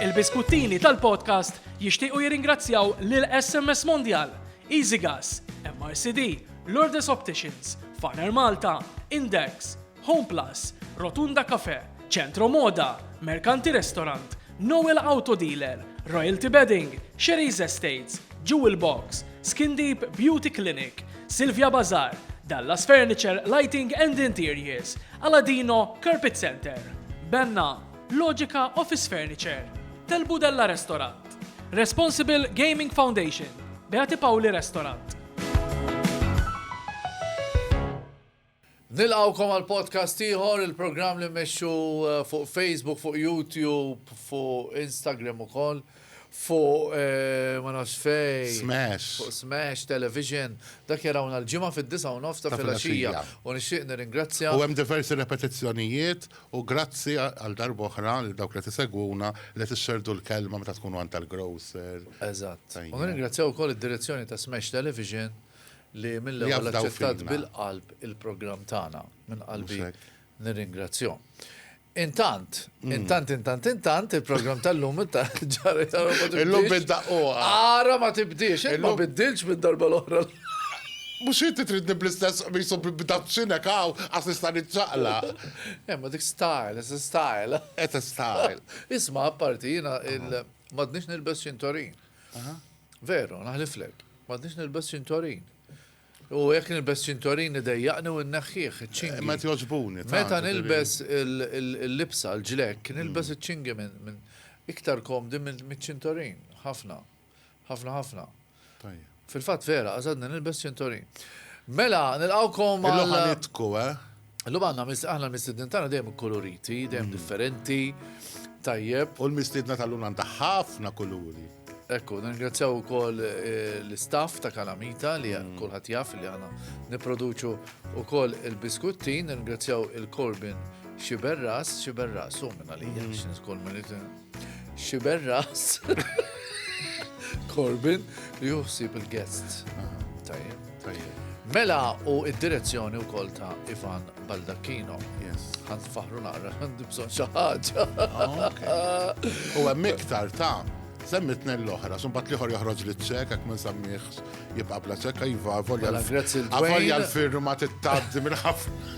Il-biskuttini tal-podcast jixtiequ jirringrazzjaw lil SMS Mondial, EasyGas, MRCD, Lourdes Opticians, Faner Malta, Index, Home Plus, Rotunda Cafe, Centro Moda, Mercanti Restaurant, Noel Auto Dealer, Royalty Bedding, Sherry's Estates, Jewel Box, Skin Deep Beauty Clinic, Silvia Bazar, Dallas Furniture Lighting and Interiors, Aladino Carpet Center, Benna, Logica Office Furniture, Tel Budella Restaurant, Responsible Gaming Foundation, Beati Pauli Restaurant. Nilqawkom għal podcast ieħor, il-programm li mmexxu eh, fuq Facebook, fuq YouTube, fuq Instagram ukoll. fuq ma nafx fej. Smash. Fuq Smash Television. Dak jarawna l-ġimgħa fid-disa' u nofs ta' filgħaxija. U nixtieq nirringrazzja. U hemm diversi repetizzjonijiet u grazzi għal darba oħra lil dawk li tisegwuna li tixxerdu l-kelma meta tkunu għand tal-grocer. Eżatt. U nirringrazzjaw ukoll id-direzzjoni ta' Smash Television li mill-ewwel aċċettat bil-qalb il-programm tagħna. Minn qalbi Nirringrazzjahom. Intant, intant, intant, intant, il-programm tal-lum ta' ġara ġara ma tibdilx. Illum bid-daqquqa. Ara ma tibdilx, illum bidilx mid-darba l-oħra. Mux inti tridni bl-istess qmisu b'daqsinek għaw, għas nista' nitċaqla. Emma eh, dik style, it's a style. It's a style. Isma' apparti jina il-madnix nilbes ċintorin. Veru, naħliflek, madnix nilbes ċintorin. U jekk nilbes ċintorin idejjaqni u nneħħih, iċ-ċingi. Ma tgħoġbuni tant. Meta nilbes il-libsa, l-ġlekk, nilbes iċ-ċingi minn iktar komdi miċ-ċintorin. Ħafna. Ħafna ħafna. Fil-fatt vera, għażadni nilbes ċintorin. Mela, nilqawkom għal. Ħanitku, eh? Illum għandna mis- aħna l-mistednin tagħna dejjem ikkoloriti, dejjem differenti, tajjeb. U l-mistiedna tal-lum għandha ħafna kuluri. Ekku, ningrazzjaw ukoll eh, l-istaff ta' Kalamita li kulħadd jaf li għana nipproduċu ukoll il-biskuttin, ningrazzjaw il-Corbin Xiberras, Xiberras, u minna li jgħan xinskol minni Xiber ras. Corbin li juħsib il-guests. Tajjeb. Tajjeb. Mela u id-direzzjoni u kol ta' Ivan Baldacchino. Yes. Għand faħru naqra, għand bżon xaħġa. Ah, u għem iktar ta' semmi t-nen l-ohra, sun bat liħor joħroġ li ċek, għak minn sammiħx jibqa bla ċek, jiva, volja mela, l-firma t-taddi minn ħafna.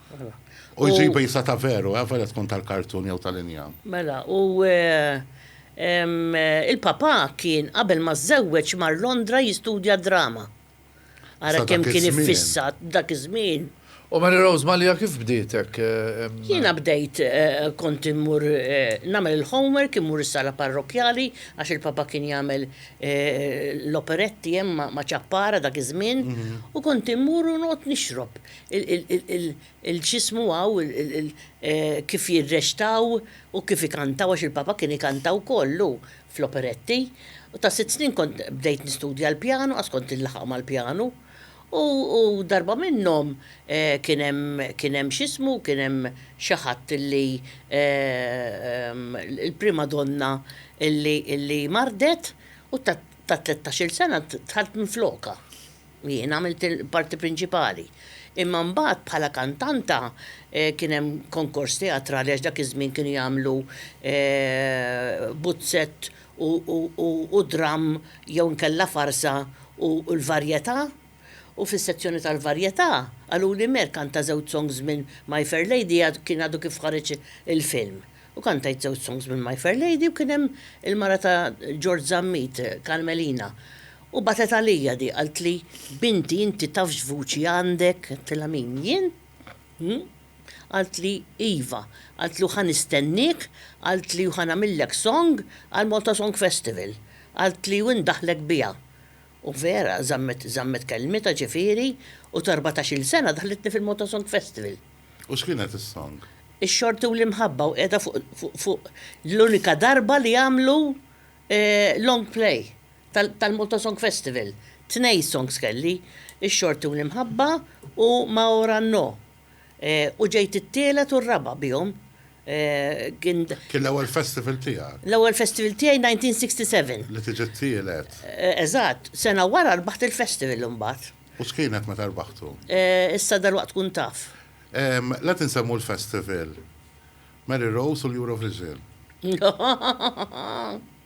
U jġibu jisa ta' veru, eh, vera tkun tal-kartun jew tal-injam. Mela, u il-papa kien qabel ma żewweġ mar Londra jistudja drama. Ara kemm kien iffissat dak iż-żmien. U Mary Rose Malija kif bdiet hekk? Jiena bdejt kont immur nagħmel il-homework, immur is-sala parrokkjali għax il-papa kien jagħmel l-operetti hemm ma' Ċappara dak iż-żmien u kont immur u noqgħod nixrob. il-ġismu hawn kif jirreċtaw u kif ikantaw għax il-Papa kien ikanta wkoll hu fl-operetti. U ta' sitt snin kont bdejt nistudja l-pjanu għax kont inlaħaq mal-pjanu. U darba minnhom kien hemm kien hemm x'ismu kien hemm xi ħadd li l-prima donna li mardet u ta' tlettax-il sena dħalt minflokha. Jien għamilt il-parti prinċipali. Imma mbagħad bħala kantanta kien hemm konkors teatrali għax dak iż-żmien kienu jagħmlu buzzett u dramm jew inkella farsa u l-varjetà. U fis-sezzjoni tal-varjetà qaluli mer kanta żewġ songs minn My Fair Lady kien għadu kif ħareġ il-film. U kantajt żewġ songs minn My Fair Lady u kien hemm il-mara ta' Ġorġ Zammit, Carmelina. U bagħtet għalija di, qaltli, Binti, inti taf x'vuċi għandek? Għedtilha min, jien? Hm? Qaltli, Iva. Qaltli, u ħa nistenniek, qaltli, u ħa nagħmillek song għall-Malta Song Festival. Qaltli, u ndaħħlek biha. U vera, żammet, żammet kelmitha, ġifieri, u t'erbatax-il sena daħħlitni fil-Malta Song Festival. U x'kienet is-song? Ix-xorti u l-imħabba u qiegħda fuq, fuq, fuq l-unika darba li għamlu long play. tal-Malta Song Festival. Tnej songs kelli, Ix-Xorti u l-Imħabba u Ma Ora No. U ġejt it-tielet u r-raba' bihom. Kien l-ewwel festival tiegħek? L-ewwel festival tiegħi 1967. Li tiġi t-tielet. Eżatt. Sena wara rbaħt il-festival imbagħad. U x'kienet meta rbaħtu? Issa dalwaqt tkun taf. La tinsemmu l-festival. Mary Rose u l-Eurovision.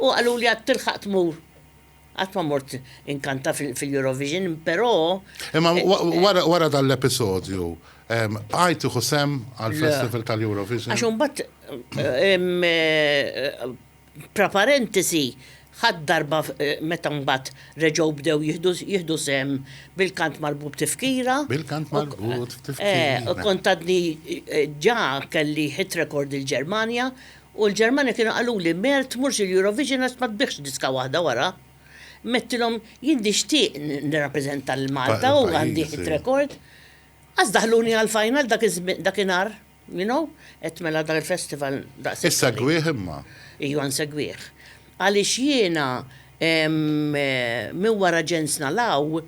U qaluli għad tilħaq tmur. Għad ma mort inkanta fil-Eurovision, pero. Imma wara dal-episodju, għajt iħu sem għal-Festival tal-Eurovision. Għax unbat, praparentisi, ħad darba meta mbagħad reġgħu bdew jihdu sem bil-kant marbut tifkira. Bil-kant marbut tifkira. Kontadni ġa kelli hit record il-Ġermanja U l-Ġermanja kienu qaluli, Mel tmurx il-Eurovision għax ma tbiħx diska waħda wara. Mettilhom, jien nixtieq nirrappreżenta lil Malta u għandi hit record. Qas daħluni għall-final dakinhar, you know, għedt mela dan il-festival daqshekk. Issegwih imma? Ijwa nsegwih. Għaliex jiena minn wara Jens Nalaw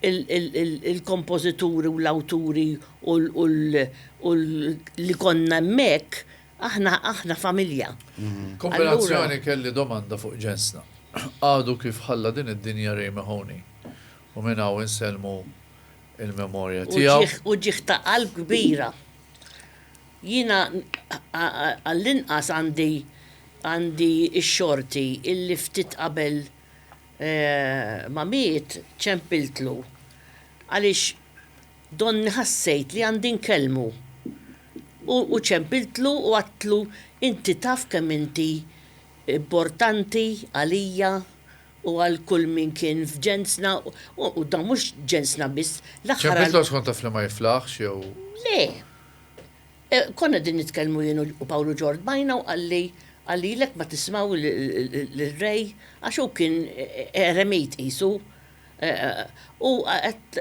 il-kompożituri u l-awturi u li konna hemmhekk, Aħna, aħna familja. Kombinazzjoni kelli domanda fuq ġensna. Għadu kif ħalla din id-dinja Ray Mahoney u minn hawn insellmu il-memorja tiegħu. U ġieħ ta' qalb kbira. Jiena għall-inqas għandi għandi x-xorti illi ftit qabel ma miet ċempiltlu għaliex Donni ħassejt li għandi nkellmu. U u ċempiltlu u għadtlu inti taf kemm inti mbortanti għalija u għal kull min kien f'ġensna u u dan mhux ġensna biss l-aħħar għal. Ċempiltlu għax kont taf li ma jiflaħx jew. Le. E konna qegħdin nitkellmu jien u Pawlu ġo rdbajna u qalli qalli lek ma tismgħu l-Re għax hu kien eremit qisu. U għet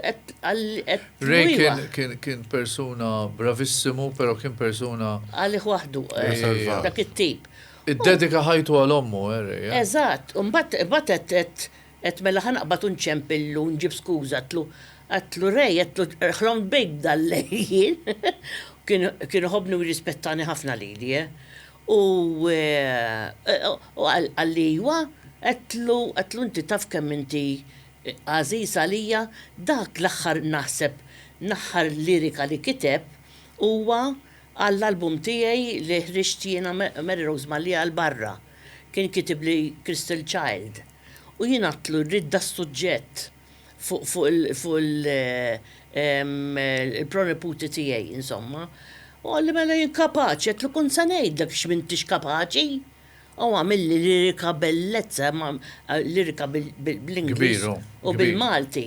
Ray kien persuna bravissimu, pero kien persuna. Għalli wahdu, dak it-tip. Id-dedika ħajtu għal ommu, eh, Ray. Eh? Eżat, un bat għet mela ħanaqbat unċempillu, nġib skuza, għatlu, għatlu Ray, għatlu ħlom bejk dal-lejjien. Kien ħobni u jirrispettani ħafna li li, eh. U qalli, Ijwa, għedtlu, għedtlu, inti taf kemm inti għażiż għalija, dak l-aħħar naħseb l-aħħar lirika li kiteb huwa għall-album tiegħi li ħriġt jiena Mary Rose Mallia l-barra. Kien kitibli Crystal Child. U jien għedtlu, rrid das-suġġett. fuq fuq il fuq il il-proniputi tiegħi insomma. U għalli mela jien kapaċi, għetlu kont se ngħidlek x'm'intix kapaċi. U għamilli lirika bellezza, lirika bl-Ingliż u bil-Malti.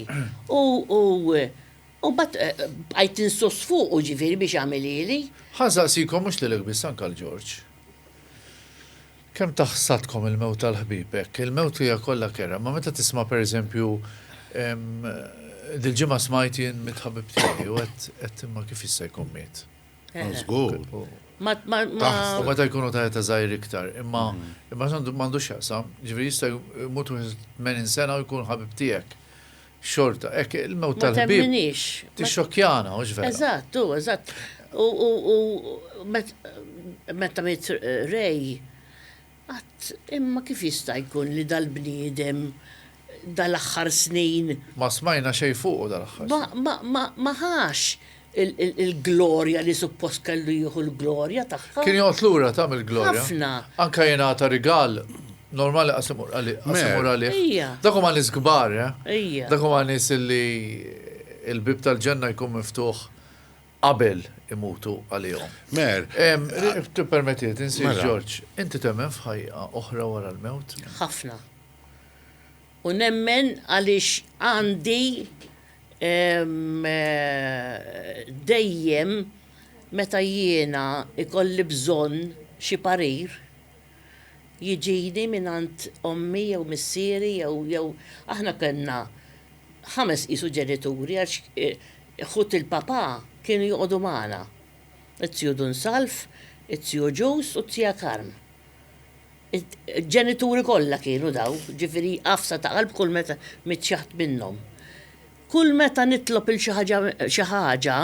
U mbagħad bqajt insuss fuqu ġifieri biex jagħmilhieli. Ħa nsaqsikom mhux lilek biss anke lil Ġorġ. Kemm taħsatkom il-mewt tal-ħbieb hekk. Il-mewt hija kollha kerha, imma meta tisma' per eżempju, dil-ġimgħa smajt jien mit-ħabib tiegħi u għedt, għedt imma kif jista' jkun miet? Żgur. U meta jkunu ta' età żgħir iktar. Imma m'għandux x'jaqsam, jiġifieri jista' jmut wieħed 80 sena u jkun ħabib tiegħek. Xorta, hekk, il-mewt tal-ħbieb. Ma temminix. Tixxokkjana, mhux vera. Eżatt, hu, eżatt. U meta miet Ray, qatt imma kif jista' jkun li dal-bniedem dal-aħħar snin. Ma smajna xejn fuqu dal-aħħar snin. Ma ħax il-glorja li suppost kellu jieħu l-glorja tagħha. Kien jgħod lura ta' mill-glorja. Ħafna. Anka jingħata rigal normali qasimur għalih. Dak huma nies kbar, eh? Dak huma nies li il-bib tal-ġenna jkun miftuħ qabel imutu għalihom. Mer. Tippermetti, tinsir mela. Ġorġ, inti temmen f'ħajja oħra wara l-mewt? Ħafna. U nemmen għaliex għandi dejjem meta jiena jkolli bżonn xi parir, jiġini mingħand ommi jew missieri jew jew aħna kellna ħames qisu ġenituri għax ħut il-papà kienu joqogħdu magħna, it-tiju Dun Salv, it-tiju Ġus u t-tija Karm. Il-ġenituri kollha kienu daw, ġifieri għafsa ta' qalb kull meta mitt xi ħadd minnhom. Kull meta nitlob 'il xi ħaġa xi ħaġa,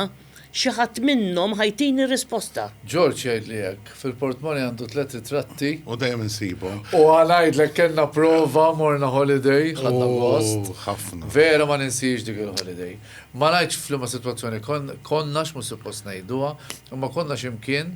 xi ħadd minnhom ħa jtini r-risposta. George jgħidli hekk. Fil-portmoni għandu tliet ritratti. U dejjem insibhom. U ħa ngħidlek kellna prova morna holiday, ħadna gost. Ooh, ħafna. Vera ma ninsiex dik il-holiday. Ma ngħidx f'liema sitwazzjoni konna, għax mhux suppost ngħiduha, imma konna xi mkien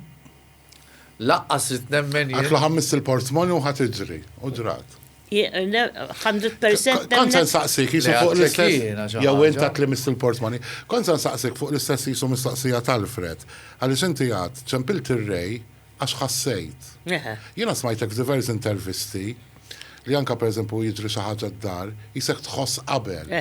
Laqqas rid nemmen jien. Għatlu ħammiss il-portmoni u ħadd iġri, u ġrat. 100% Kont se nsaqsik jisu fuq l-istess. Jew int għat li miss il-portmoni. Kont se nsaqsik fuq l-istess jisu mistoqsija tal-Fred. Għaliex inti għad ċempilt ir-rej għax ħassejt. Jiena smajtek f'divers intervisti li anke pereżempju jiġri xi ħaġa d-dar, jisek tħoss qabel.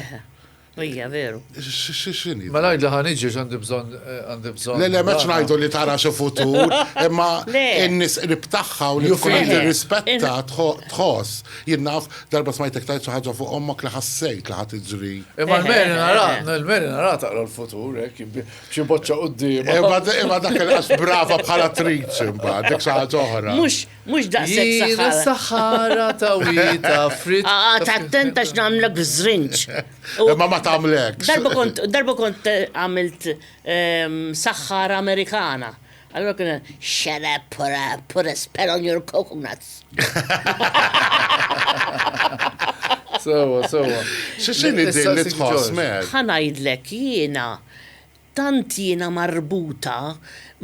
Ija, veru. Xini? Ma najd li ħan iġi għandi bżon, eh, għandi bżon. Le, le, meċ najdu li tara xo futur, imma n-nis qrib taħħa u li jkun rispetta tħoss. Jinnaf, darba smajtek tajt ħaġa fuq ommok li ħassejt li ħat iġri. Imma l-meri nara, l-meri nara taqra l-futur, ek, eh, bċi boċċa u d-dim. Imma dak il-għax brava bħala triċ, imma dik xaħġa oħra. Mux, Mhux daqshekk saħħara. Jiena saħħara ta' wieta frit. Għad attent għax nagħmlek żrinġ. Imma ma tagħmlekx. Darba kont għamilt ehm, saħħara Amerikana. Allora kien shut up put a, put a spell on your coconuts. Sewa, sewa. X'inhi din li tħoss mer? Ħanajdlek jiena Tant jiena marbuta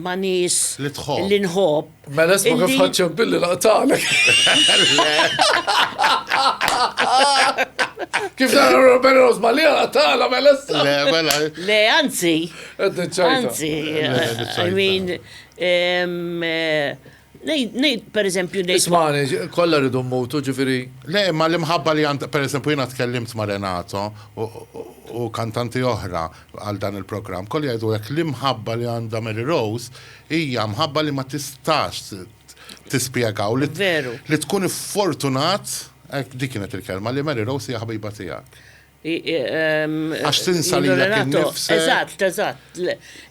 ma' nies Li tħobb. li nħobb. Mela isma' kif illi- ħadt ċemp billi laqtalek. Kif nara Robert Rose ma li laqtala mela issa. Le, mela. Le, anzi, Qed niċċajta. anzi, Le, niċċajta. I mean, em, eh, Ngħid, pereżempju, ngħid. Ismagħni, kollha rridu mmutu, ġifieri. Le, imma l-imħabba li għandha, pereżempju, jiena tkellimt ma' Renato u kantanti oħra għal dan il-programm, kollha jgħidu hekk, l-imħabba li għandha Mary Rose hija mħabba li ma tistax tispjega u li tkun iffortunat, hekk dik kienet il-kelma, li Mary Rose hija ħbiba tiegħek. Għax tinsa lilek innifsek. Eżatt, eżatt.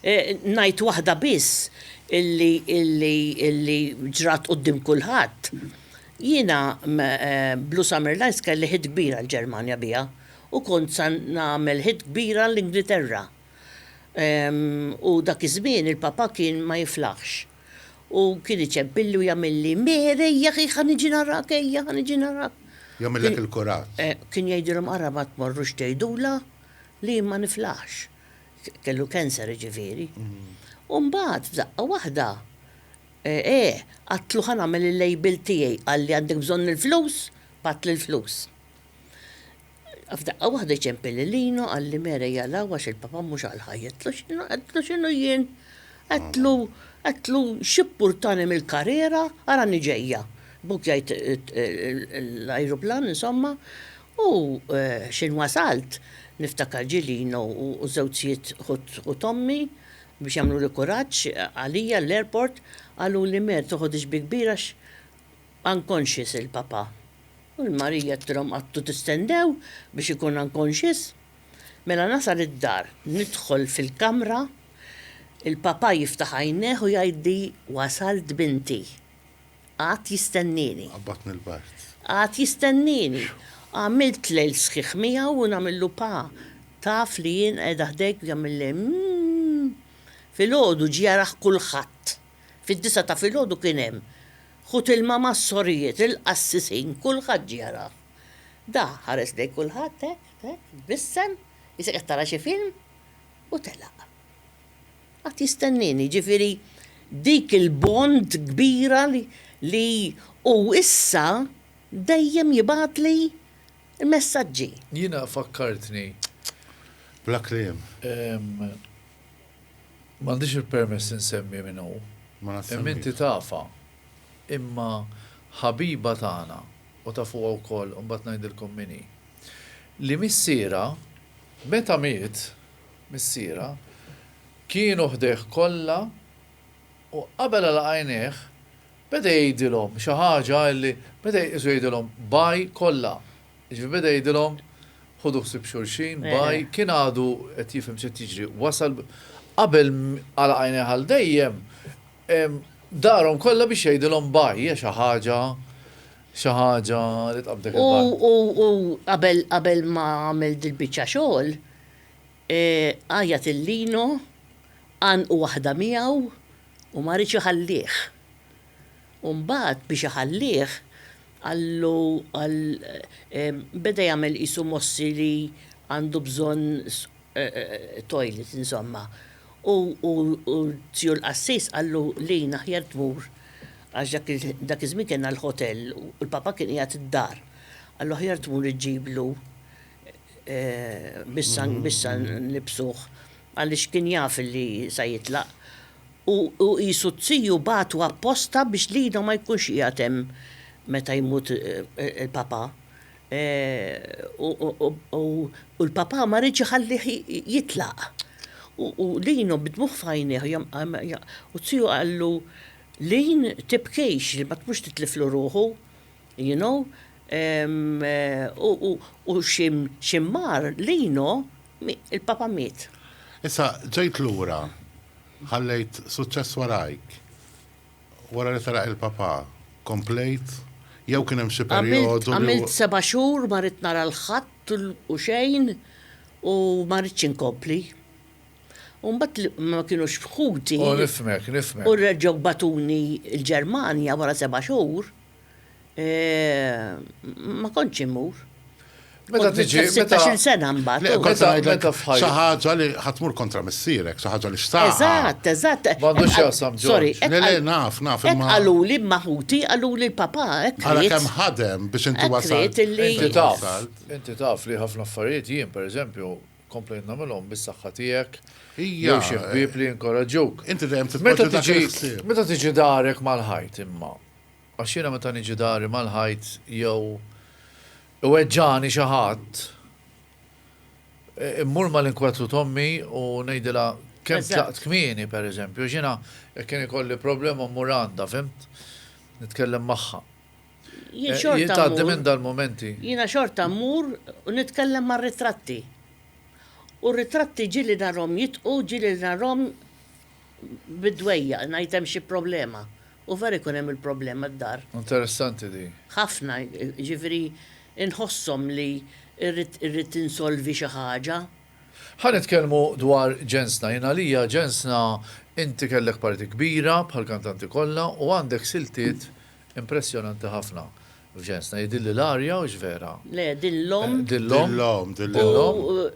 E, ngħid waħda biss illi illi illi ġrat qudiem kulħadd. Jiena e, Blue Summer Lights kelli ħid kbira l-Ġermanja biha u kont sa nagħmel ħid kbira l-Ingilterra. U dak iż-żmien il-papa kien ma jiflaħx. U kien iċebbilli u jagħmilli, Meher, ejja, ħi ħa niġi narak, ejja, ħa niġi narak. Jagħmillek il-kurat. Eh, kien jgħidilhom ara ma tmorrux tgħidulha li jien ma niflaħx. Kellu cancer ġifieri. Mm. U mbagħad f'daqqa waħda eh, eh, għatlu ħa nagħmel il-label tiegħi qalli għandek bżonn il-flus, patli l-flus. F'daqqa waħda jċempel lil Lino, Għallimera jaqlgħu għax il-papa mhux għall-ħajja. Għedtlu x'inhu, għedtlu x'inhu jien? Għedtlu, għedtlu x'ippurtani mill-karriera, arani ġejja. Buk jgħid l-ajruplan, insomma, u x'ħin wasalt, niftakar ġie Lino u żewġ zjiet ħut ommi biex jagħmluli kuraġġ għalija l-airport, qaluli Mer toħodhiex bi kbir għax unconscious il-papa. U l-Marija għedtilhom Għadtu tistendew biex ikun unconscious? Mela nasal id-dar, nidħol fil-kamra, il-Papà jiftaħ għajnejh u jgħidli Wasalt binti. Qagħad jistennieni. Qabadtni l-bard. Qagħad jistennieni. Għamilt lejl sħiħ miegħu u nagħmillu Pa, taf li jien qiegħda ħdejk u jagħmilli Mmm. Filgħodu ġie jaraħ kulħadd. Fid-disgħa ta' filgħodu kien hemm. Ħut ilma mas-sorijiet, il-qassisin, kulħadd ġie jarah. Da ħares lejn kulħadd hekk, hekk, tbissem, qisek qed tara xi film, u telaq. Qagħad jistennieni, jiġifieri dik il-bond kbira li li hu issa dejjem jibgħatli l-messaġġi. Jiena fakkartni. Bla kliem. M'għandix il-permess insemmi min hu, imma inti tafha. Imma ħabiba tagħna, u tafuha wkoll, imbagħad ngħidilkom min hi. Li missierha, meta miet missierha, kienu ħdejh kollha u qabel għalaq għajnejh, beda jgħidilhom xi ħaġa illi beda jqisu jgħidilhom bye kollha. Jiġifieri beda jgħidilhom, Ħudu ħsieb xulxin, bye, kien għadu qed jifhem x'qed jiġri, wasal qabel għalaq għajnejh għal dejjem, darhom kollha biex jgħidilhom bye, hija xi ħaġa, xi ħaġa li tqabb dik il-banda. U u qabel qabel ma għamel dil-biċċa xogħol, għajjat lil Lino, għannqu waħda miegħu u ma riedx iħallih. U mbagħad biex iħallih, qallu għal beda jagħmel qisu mossi li għandu bżonn toilet insomma. U Zju l-qassis qallu lin aħjar tmur għax dak iż-żmien kellna l-ħotell u l-Papa kien qiegħed id-dar. Qallu aħjar tmur iġġiblu bis-sangu bis-sangu nlibbsuh. għaliex kien jaf li sa jitlaq, u hu qisu t-tiju bagħtu apposta biex Lido ma jkunx qiegħed hemm meta jmut il-Papà. U l-Papà ma riedx iħallih jitlaq. U Lino b'dmugħ f'għajnejh u t-tiju qallu, Lin, tibkix, li ma tmux titliflu ruħu. You know? U x'immar Lino, il-papa miet. Issa ġejt lura, ħallejt suċċess warajk. Wara li telaq il-papa, komplejt jew kien hemm xi perjodu? Għamilt seba' xhur ma ridt nara 'l ħadd u xejn u ma ridtx inkompli. U mbagħad li ma kinux ħuti. Oh nifhmek, nifhmek. U reġgħu bagħtuni l-Ġermanja wara seba' xhur. Ma kontx immur. Meta tiġi. 16 sena mbagħad. Meta meta fħajja. Xi ħaġa li ħatmur kontra missierek, xi ħaġa li xtaq. Eżatt, eżatt. M'għandux x'jaqsam Sorry. Le le naf, naf imma. Qaluli maħuti, qaluli l-papa hekk. Għala kemm ħadem biex inti wasalt. Inti taf, inti taf li ħafna affarijiet jien pereżempju komplejt nagħmilhom bis-saħħa tiegħek. Jew xi ħbieb li jinkoraġġuk. Inti dejjem titpoġġi dak il-ħsieb. Meta tiġi darek mal-ħajt imma. Għax jiena meta niġi dari mal-ħajt jew iweġġagħni xi ħadd, immur mal-inkwetru t'ommi u ngħidilha kemm tlaqt kmieni, pereżempju, għax jiena jekk kien ikolli problema mmur għandha, fimt? Nitkellem magħha. Jien xorta mmur. Jien tgħaddi minn dal-mumenti. Jiena xorta mmur u nitkellem mar-ritratti. U r-ritratti ġieli narhom jitqu, ġieli narhom. bid-dwejjaq ngħid hemm xi problema u vera jkun hemm il-problema d-dar. Interessanti din. Ħafna, jiġifieri nħosshom li rrid insolvi xi ħaġa. Ħa nitkellmu dwar ġensna. Jien għalija ġensna inti kellek parti kbira bħall-kantanti kollha u għandek siltiet Impressjonanti ħafna. F'ġensna jidhirli l-arja hux vera? Le, din l-omm. Din l-omm. Din l-omm.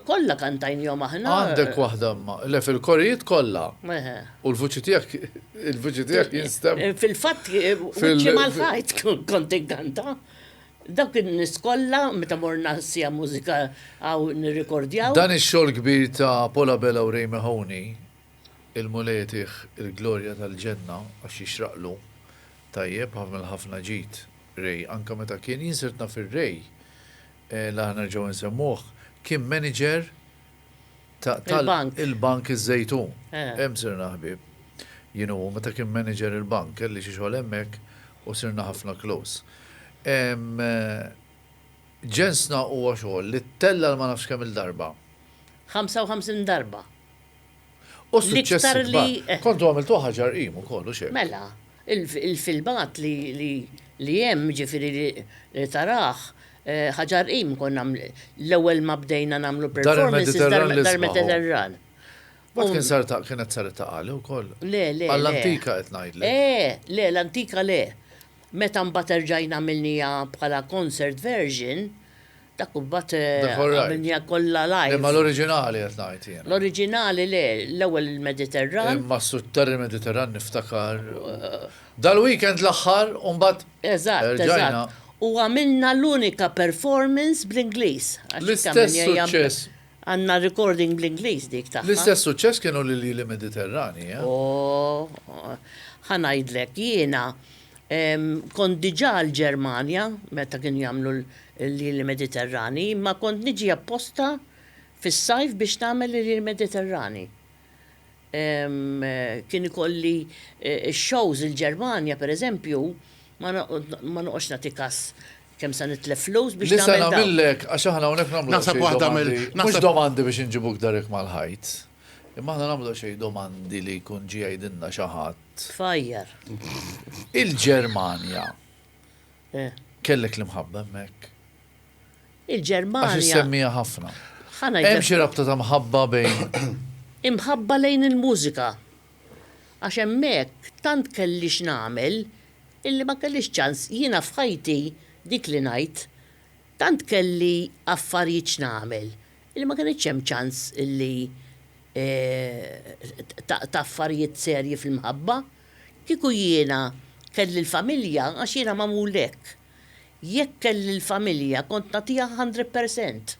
Kollha kantajnihom aħna. Għandek waħda imma. Le fil-korijiet kollha. U l-vuċi tiegħek il-vuċi tiegħek jinstema'. Fil-fatt wiċċi mal-ħajt kont inkanta. Dawk in-nies kollha meta morna sija mużika hawn nirrikordjaw. Dan ix-xogħol kbir ta' Paula Bella u Ray Mahoney Il-Mulej jtih il-glorja tal-ġenna għax jixraqlu tajjeb għamel ħafna ġid Ray anke meta kien, jien sirt naf ir-Ray li aħna nerġgħu nsemmuh kien manager ta' tal il-bank iż-Żejtun. Hemm sirna ħbieb. Jien u hu meta kien manager il-bank kelli xi xogħol hemmhekk u sirna ħafna close. Ġensna huwa xogħol li ttella' ma nafx kemm-il darba. 55 darba. U suċċessi kbar. Eh. Kontu għamiltu ħaġa rqim ukoll u xejn. Mela, il-filmat li hemm ġifieri li taraħ eh, ħaġa rqim kon l-ewwel ma bdejna nagħmlu performance dar-Mediterran. Bat kien sar ta' kienet sar ta' għali wkoll. Le, le. Għall-antika qed ngħidlek. Eh, le, l-antika le. Meta mbagħad erġajna għamilnija bħala concert version, Dak kumbat għamilnija kollha lajk. Imma l-oriġinali qed ngħid jien. L-oriġinali le, l-ewwel il-Mediterran. Imma s-sutter il-Mediterran niftakar. Dal-weekend l-aħħar u mbagħad. Eżatt, eżatt. U għamilna l-unika performance bl-Ingliż. L-istess suċċess. Għandna recording bl-Ingliż dik tagħha. L-istess suċċess kienu l-Lili Mediterrani. Oh, ħanajdlek jiena Kont diġà l-Ġermanja meta kienu jagħmlu l-Iljieli Mediterrani, imma kont niġi apposta fis-sajf biex nagħmel l-Iljieli Mediterrani. Kien ikolli x-shows il-Ġermanja, pereżempju, ma noqgħodx nagħti kas kemm se nitlef flus biex nagħmel dan. Nisa' nagħmillek, għax aħna hawnhekk nagħmlu xi domandi. Naħseb waħda mill-. Mhux domandi biex inġibuk darek mal-ħajt. Imma aħna nagħmlu xejn domandi li jkun ġie jgħidilna xi ħadd. Tfajjar. Il-Ġermanja. Eh. Kellek l-imħabba hemmhekk? Il-Ġermanja. Għax issemmija ħafna. Hemm xi rabta ta' mħabba bejn. Imħabba lejn il-mużika. Għax hemmhekk tant kelli x'nagħmel illi ma kellix ċans jiena f'ħajti dik li ngħid tant kelli affarijiet x'nagħmel. Illi ma kinitx hemm ċans illi taqta' affarijiet serji fil-mħabba. Kieku jiena kelli l-familja, għax jiena magħmul hekk, jekk kelli l-familja kont nagħtiha hundred percent.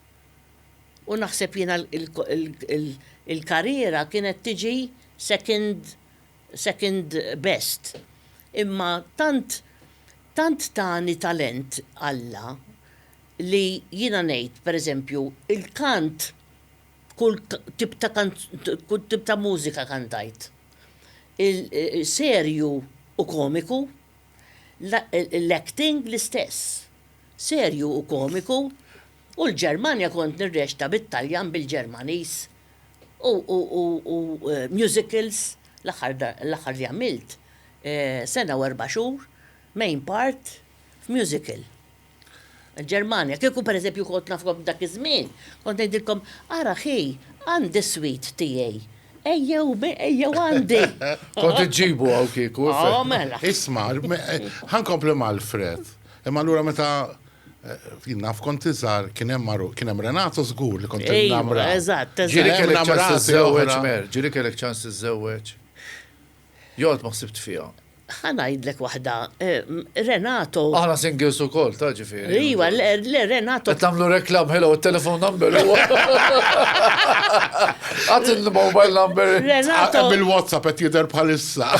U naħseb jiena l-karriera kienet tiġi second second best. Imma tant tant tani talent Alla, li jiena ngħid, per eżempju, il-kant kull tip ta' kull tip ta' mużika kantajt. Serju u komiku, l-acting l-istess. Serju u komiku u l-Ġermanja kont nirreċta bit-Taljan bil-Ġermaniż u musicals l-aħħar li għamilt sena u erba' xhur main part f'musical. Il-Ġermanja. Kieku pereżempju kont nafkom f'dak iż-żmien, kont ngħidilkom, ara ħi, għandi s-sweet tiegħi. Ejjew, ejjew għandi! Kont iġġibu hawn kieku. Oh, mela. Isma', ħa nkompli mal-Fred. Imma allura meta eh, naf kont iżgħar kien hemm maru, kien hemm Renato żgur li kont Ejwa, innamra. eżatt, eżatt. Ġiri Hemm kellek namel ċans sensazja iżżewweġ, oħra. mer, ġiri kellek ċans iżżewweġ. Joqgħod ma ħsibt fiha. Ħa ngħidlek waħda, Renato. Aħna singles ukoll, ta' ġifieri. Iwa, le, le, Renato. Qed nagħmlu reklam, hello, it-telefon number huwa. Għad il-mobile number. Renato. Bil-WhatsApp qed jidher bħalissa.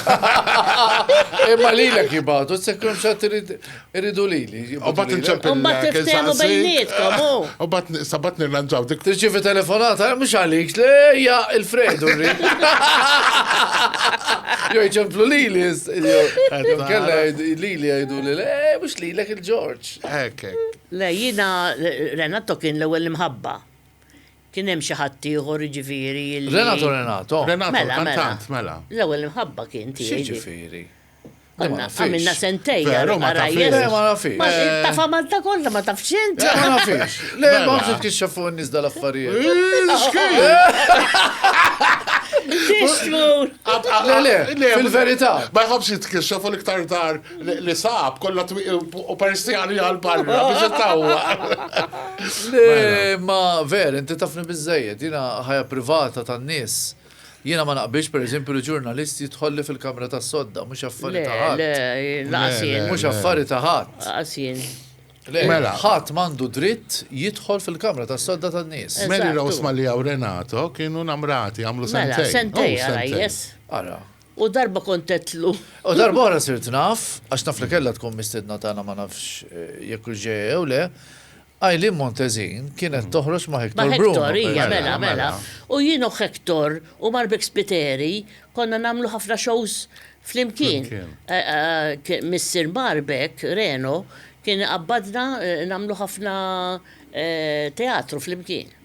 Imma lilek jibgħatu, sekkum xatt irid. Irridu li li. U bat nċempil. U bat tiftemu bejnietkom. U bat sabat nirranġaw dik. Tirċivi telefonata, eh, mux għalik, lejja il-fredu rrid. Jo ċemplu li li. Jo kella li li għajdu li le, eh, mux li l-ek il-ġorġ. Ek, ek. Le, jina Renato kien l-ewel imħabba. Kien hemm xi ħadd ieħor ġifieri. Renato Renato. Renato, mela, mela. mela. L-ewwel imħabba kien tiegħi. Ġifieri. Konna għamilna sentej. Veru, ma tafx. Ma nafix. Ma eh, tafa Malta kollha ma tafx int. Ma nafix. Le, ma nafx kixxa fuq n-nies dal-affarijiet. Tixmur! Le, le, le, fil-verità. Ma jħobx jitkixxa fuq l-iktar dar li sab kollha u perstjani għal-barra biex ittawwa. Le, ma ver, inti tafni biżejjed, jina ħajja privata tan-nies. Jiena ma naqbilx per eżempju li ġurnalist jidħolli fil-kamra tas-sodda, mhux affari ta' ħadd. Le, le, laqas jien. Mhux affari ta' ħadd. Laqas jien. Mela. Ħadd m'għandu dritt jidħol fil-kamra tas-sodda tan-nies. Mary Rose Mallia u Renato kienu namrati għamlu sentejn. Mela, sentejn ara jess. Ara. U darba kont għedtlu. U darba oħra sirt naf, għax naf li kellha tkun mistiedna tagħna ma nafx jekk hux ġejja jew le, Eileen Montezin kienet toħroġ ma' Hector Bruno. Ma' Hector, ija, mela, mela. U jien u Hector u Marbek Spiteri konna nagħmlu ħafna shows flimkien. Missier Marbek, Reno, kien iqabbadna nagħmlu ħafna teatru flimkien.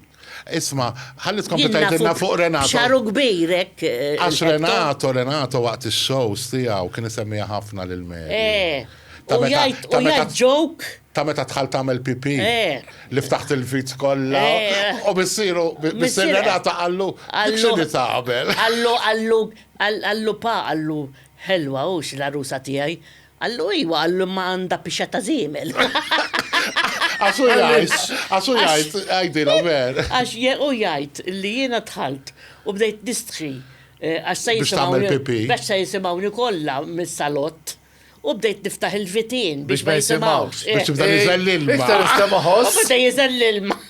Isma, ħalli tkompli tgħidilna fuq Renato. Xaru kbir hekk. Eh, Għax Renato, Renato waqt ix-shows tiegħu kien isemmija ħafna lil Mary. Eh. Ta' meta ta' meta joke. Ta' meta tħal tagħmel pipi. Eh. Li ftaħt il-vit kollha. U missieru missier Renato qallu x'inhi tagħmel. Qallu qallu qallu pa qallu ħelwa hux l-arusa tiegħi. Qallu iwa, qallu imma għandha pixa ta' żiemel. Għax hu jgħid, għax hu jgħid, għidilhom ver. Għax hu jgħid li jiena dħalt u bdejt nistħi eh, għax se jisimgħuni. Biex se jisimgħuni kollha mis-salott u bdejt niftaħ il-vitin biex ma jisimgħux. Biex tibda jiżel eh, eh, l-ilma. Iktar iżda maħoss. Bda jiżel l-ilma.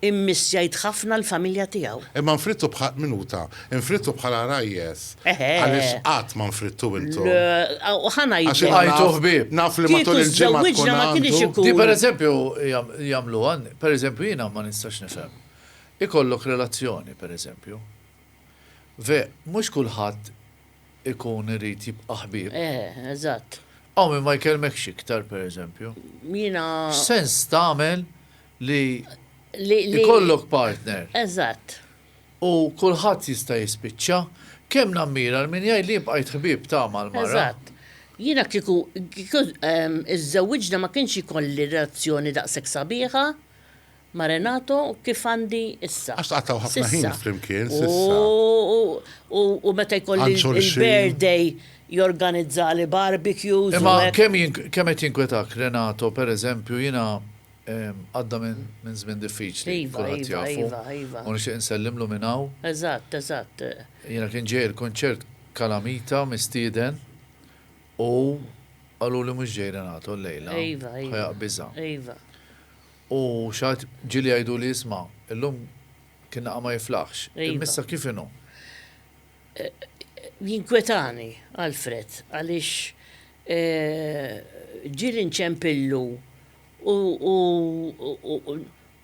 Immissjajt ħafna l-familja tiegħu. Imma nfridtu bħal, minuta, nfridtu bħal għarajjes. Eħe. Għaliex qatt ma nfridtu intom. Le, u ħa ngħidlek. Għax jiena naf, naf li matul il-ġimgħa tkun għandu. Kieku żżewwiġna ma kienx ikun. Di per eżempju jagħmluha, per eżempju jiena ma nistax nifhem. Ikollok relazzjoni, per eżempju. Ve, mhux kulħadd ikun irid jibqa' ħbieb. Eħe, eżatt. Hawn min ma jkellmekx iktar, per eżempju. Jiena. X'sens tagħmel li jkollok partner. Eżatt. U kulħadd jista' jispiċċa. Kemm nammira l-min jgħid li bqajt ħbieb ta' mal-mara. Eżatt. Jiena kieku żżewwiġna ma kienx ikolli relazzjoni daqshekk sabiħa ma' Renato kif għandi issa. Għax tqattgħu ħafna ħin flimkien s'issa. U meta jkolli l-birthday jorganizzali barbecues. Imma kemm qed jinkwetak Renato, pereżempju, jiena Għadda minn żmien diffiċli, kulħadd jafu, u nixtieq insellimlu minn hawn. Jiena kien ġej il-kunċert Calamita mistieden u qaluli mhux ġej Renato l-lejla, ħa jaqgħa biża'. U xi ħadd ġieli jgħiduli isma', illum kien naqa' ma jiflaħx, imma issa kif inhu? Jinkwetani Alfred għaliex ġieli nċempillu u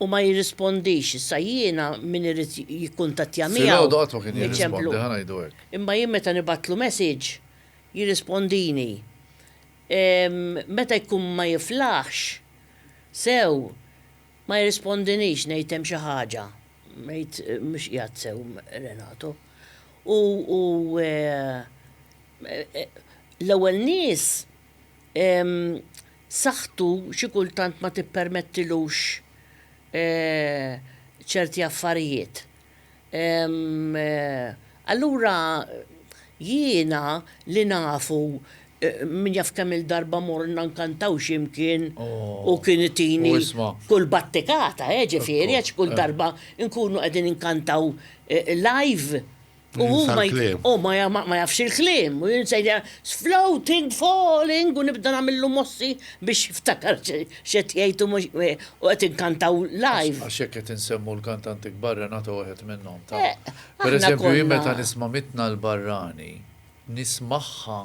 ma jirrispondix. Issa jiena min irid jikkuntattja miegħu. Filgħodu qatt ma kien jirrispondi, ħa ngħidu hekk. Imma jien meta nibgħatlu message jirrispondini. Meta jkun ma jiflaħx sew ma jirrispondinix ngħid hemm xi ħaġa, ngħid mhux qiegħed sew Renato. U l-ewwel nies saħħtu xi kultant ma tippermettilux ċerti affarijiet. Allura jiena li nafu min jaf kemm-il darba morna nkantaw xi mkien u kien itini kull battikata, jiġifieri għax kull darba nkunu qegħdin inkantaw live. U hu ma oh, jafx il-klim, u jinsejja floating, falling, u nibda namillu mossi biex ftakar xet jajtu u għet inkantaw live. Għaxek għet insemmu l-kantanti kbarra nata għet minnom ta' eh, per eżempju jim meta nisma mitna l-barrani, nismaħħa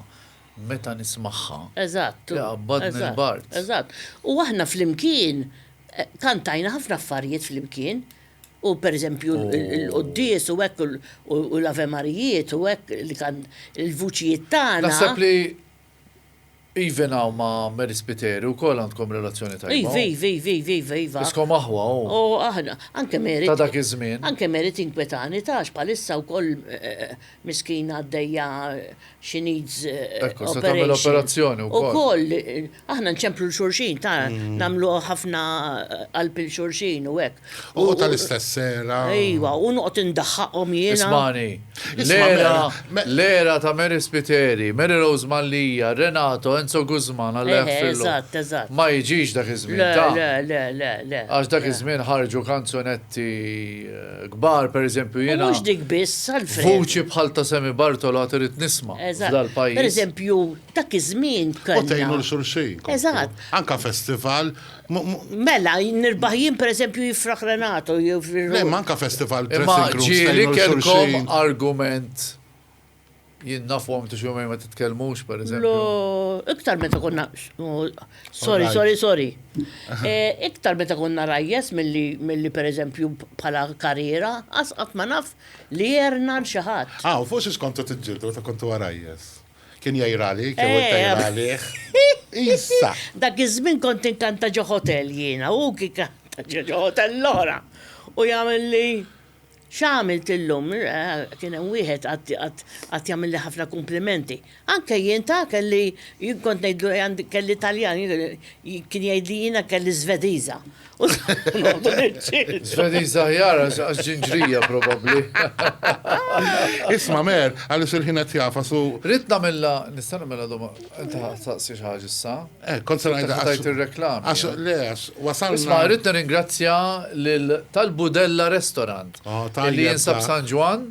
meta nismaħħa. Eżatt. Għabbad minn bart. Eżatt. U aħna fl-imkien, eh, kantajna ħafna affarijiet fl-imkien. U per eżempju l-qoddies u hekk u l-avemarijiet u hekk li kan il-vuċijiet tagħna. Naħseb li even hawn ma' Mary Spiteri wkoll għandkom relazzjoni tajba. Iva, iva, iva, iva, iva, iva. Iskom aħwa hu. U aħna, anke Mary. Ta' dak iż-żmien. Anke Mary tinkwetani ta' għax bħalissa wkoll Miskina għaddejja she needs Ekku, se tagħmel operation. operazzjoni wkoll. Ukoll, eh, aħna nċemplu l-xurxin, ta' namlu ħafna qalb il-xurxin u hekk. U tal-istess sera. Ejwa, u noqgħod indaħħaqhom jiena. Ismani, Isma' l-era, Mary, me- l-era ta' Mary Spiteri, Mary Rose Mallia, Renato, Enzo Guzman, għalli Eħe, jaffillu. eżatt, eżatt. Ma jiġix dak iż-żmien Le, ta' le, le, le, le. għax dak iż-żmien ħarġu kanzunetti kbar, per eżempju, jiena. Mhux dik biss, Alfred. Vuċi bħal ta' Semi Bartolo irid nisma' f'dal-pajjiż. Per eżempju, dak iż-żmien kellna. U tgħinu l-xulxin. Eżatt. Anka festival. Mela, nirbaħ jien per eżempju jifraħ Renato jew. Le, manka festival. Imma ġieli kellkom argument Jien naf u għamtu xumej ma titkellmux, per eżempju. Lo, iktar meta konna. Sorry, sorry, sorry. Eh, iktar meta konna rajjes mill-li per eżempju bħala karriera, asqat ma naf li jerna l-xaħat. Ah, u fuq xiex kontu t-ġildu meta kontu għarajjes? Kien jajrali, kien eh. jajrali. Issa. Dak iż-żmien kont inkanta ġo hotel jiena, u kikanta ġo hotel l-ora. U jagħmel li X'għamilt illum? Kien hemm wieħed qatt jagħmilli ħafna kumplimenti. Anke jien ta' kelli jien kont ngħidlu kelli Taljan, kien jgħidli jiena kelli Żvediża. Żvediża aħjar għax ġinġrija probabbli. Isma' Mer, għaliex il-ħin qed jagħfas u. Ridt nagħmilha, nista' nagħmilha domanda, inti ħa tistaqsi xi ħaġa issa? Eh, kont se ngħidha tajt ir-reklam. Għax eh. le għax wasalna. Isma' rrid nirringrazzja lil tal-Budella Restaurant oh, li jinsab San Ġwan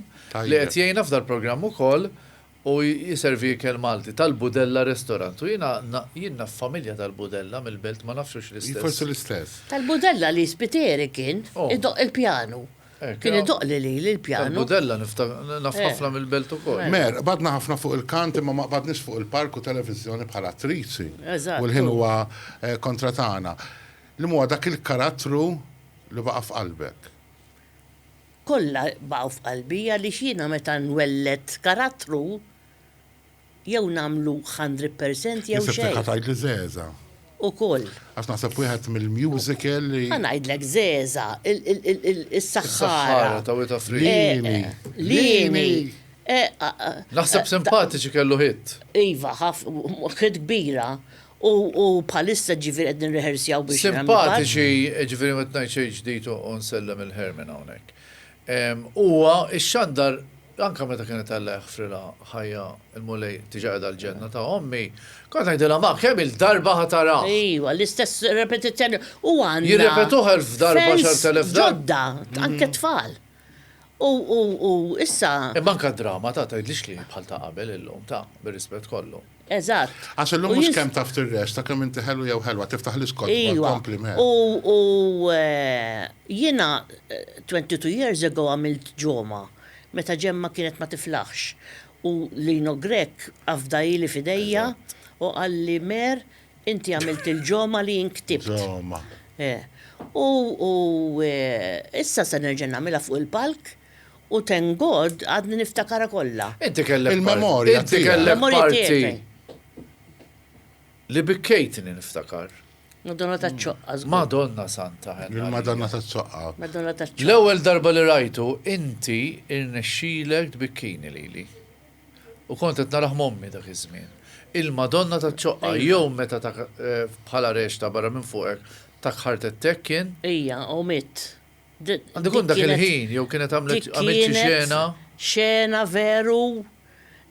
li qed jgħinna f'dal programm ukoll u jiservi ikel Malti tal-Budella Restaurant. U jina jina familja tal-Budella mill-belt ma nafxux l-istess. Forse l-istess. Tal-Budella li spiteri kien oh. idoq il-pjanu. Kien itoqli lili l-pjanu. Il-Budella naf ħafna mill-Belt ukoll. Mer, qbadna ħafna fuq il-kant imma ma qbadniex fuq il-palk u televiżjoni bħal attriċi. U l-ħin huwa kontra tagħna. Li m'huwa dak il-karattru li baqa' f'qalbek? Kollha baqgħu f'qalbi għaliex jiena meta nwelled karattru, jew nagħmlu hundred percent jew xejn. Jien sibtek ħa tgħidli żgħeżagħ. Ukoll. Għax naħseb wieħed mill-musical li. Ħa ngħidlek żgħeżagħ, is-saħħara. Is-saħħara ta' Wita Free. Liemi. Liemi. Naħseb simpatiċi kellu hit. Iva, hit kbira. U bħalissa ġifieri qed nirrehersjaw biex. Simpatiċi, ġifieri ma tgħidx xejn ġdid u nsellem il-Herman hawnhekk. Huwa xxandar anke meta kien qed iħfrilha ħajja l-Mulej diġà qiegħda l-ġenna ta' ommi, kont ngħidilha ma kemm-il darba ħa tarah. Iva, l-istess repetizzjoni. U għandna. Jirrepetuh elf darba, għaxart elef darba. Ġodda, anke t-tfal. U issa. Imma anke d-drama ta' tgħidlix li hi bħal ta' qabel illum, ta', bir-rispett kollu. Eżatt. Għax illum mhux kemm taf tirreċta, kemm inti ħelu jew ħelwa, tiftaħlix kotba, kompliment. Ejwa, u jiena 22 years ago għamilt ġomgħa, meta Ġemma kienet ma tiflaħx, u Lino Grech afda ili f'idejja u qalli, Mer, inti għamilt il-ġomgħa li jien ktibt. Ġomgħa. Eh. U issa se nerġa' nagħmilha fuq il-palk. U thank God għadni niftakarha kollha. Inti kellek parti. Il-memorja tiegħek. Inti kellek parti li bikkejtni niftakar. Madonna taċ-ċoqqa żgur. Madonna Santa Henna. Il-Madonna taċ-ċoqqa. Madonna taċ-ċoqqa. L-ewwel darba li rajtu inti irnexxielek tbikkini lili. U kont qed narah m'ommi dak iż-żmien. Il-Madonna taċ-ċoqqa jew meta bħala rexta barra minn fuqek ta kħartettek kien. Ija, u mitt. Għandu jkun dak il-ħin, jew kienet għamlet xi xena. Xena veru,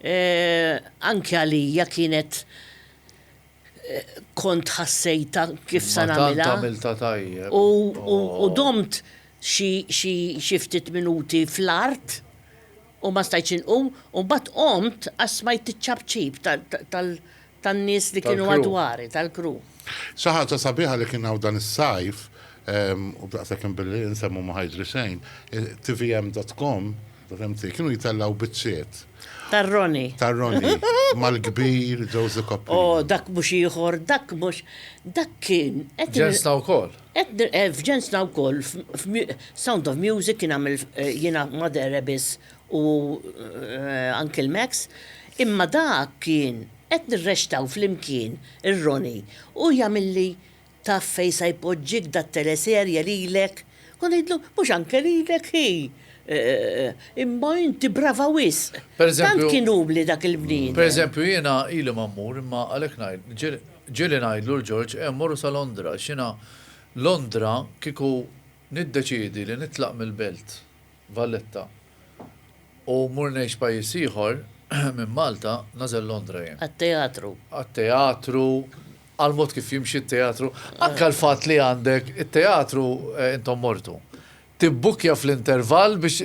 eh, anke għalija kienet eh, kont ħassejta kif sa nagħmilha. U oh. domt xi ftit minuti fl-art U ma stajtx inqum u mbagħad qomt għax smajt iċ-ċapċip tan-nies li kienu madwari, tal-crew. Xi ħaġa sabiħa li kien hawn dan is-sajf, u daqshekk inbilli insem u ma ħa jiġri xejn, tvm dot com, fhimti, kienu jtellgħu biċċiet. Tar-Ronnie. Tar-Ronnie, mal-kbir Josie Coprini. O, dak mhux ieħor, dak mhux, dak kien qed. Ġenstna wkoll. Qed nir eh f'ġensna wkoll f'mu eh Sound of Music kien għamel eh jiena Mother Rebis u eh Uncle Max imma dak kien qed nirrexxtaw flimkien ir-Roni u jagħmilli taf fejn sa jpoġġik da teleserje lilek kont ngħidlu mhux anke lilek hi eh imma inti brava wisq! Tant kien umli dak il-bniedem. Per eżempju jiena ili ma mmur imma għalhekk ngħid. Ġieli ngħidlu 'l Ġorġ eh mmorru sa Londra għax jiena Londra kieku niddeċiedi li nitlaq mill-belt, Valletta, u mmur ngħix pajjiż ieħor minn Malta, nagħżel Londra jien. Għat-teatru. Għat-teatru, għall-mod kif jimxi t-teatru, anke għall-fatt li għandek it-teatru intom mortu. Tibbukkja fl-intervall biex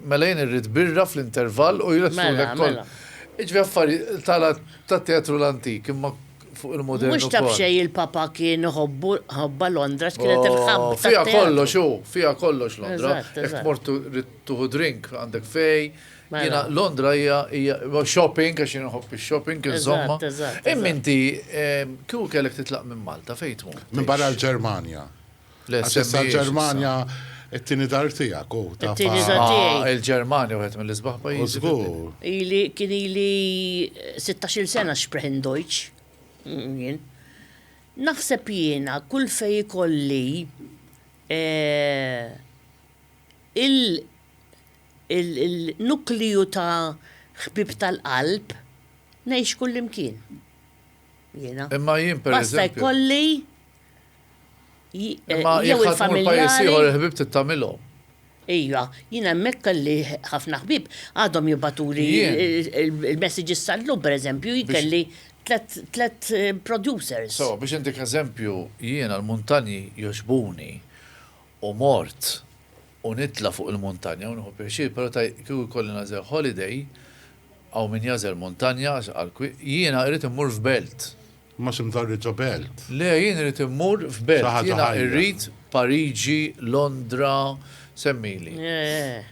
mela jien irrid birra fl-intervall u jresqulek ukoll. Mela, mela. Jiġifieri affarijiet tala tat-teatru l-antik imma fuq il-modern ukoll. Mhux taf xejn il-Papa kien iħobbu ħobba Londra x'kienet il-hub tat-teatru. Fiha kollox hu, fiha kollox Londra. Eżatt, eżatt. Jekk tmur trid tieħu drink għandek fej. Mela. Jiena Londra hija, hija, shopping għax jien inħobb ix-shopping insomma. Eżatt, eżatt. Imma inti kieku kellek titlaq minn Malta fejn tmur? Minbarra l-Ġermanja. Għax issa l-Ġermanja it-tieni dar tiegħek u ta' It-tieni dar tiegħi. Ah, Il-Ġermanja wieħed mill-isbaħ U pajjiżi. żgur. Ili kien ili 16-il sena sprechen Deutsch. Mm, Jien. Naħseb jiena kull fejn ikolli eh, il- il- il-nukliju ta' ħbieb tal-qalb ngħix kullimkien. Jiena. Imma jien Basta pereżempju. jkolli Imma jekk ħadd mur pajjiż ieħor il-ħbib tittamilhom. Ija, jien hemmhekk kelli ħafna ħbib għadhom jibatuli il-messages tal-lum pereżempju jkelli tlet eh, producers. So, biex intik eżempju, jiena l-muntanji joġbuni u mort u nitla fuq il-muntanja u nħu pjaċir, pero ta' kieku kolli nazel holiday, għaw min jazel muntanja, għal jiena irrit immur f'belt. Imma xi mdorri ġo belt? Le, jien irid immur f'belt. Xi ħaġa ħajja. Jiena irrid Pariġi, Londra, semmili. Eh.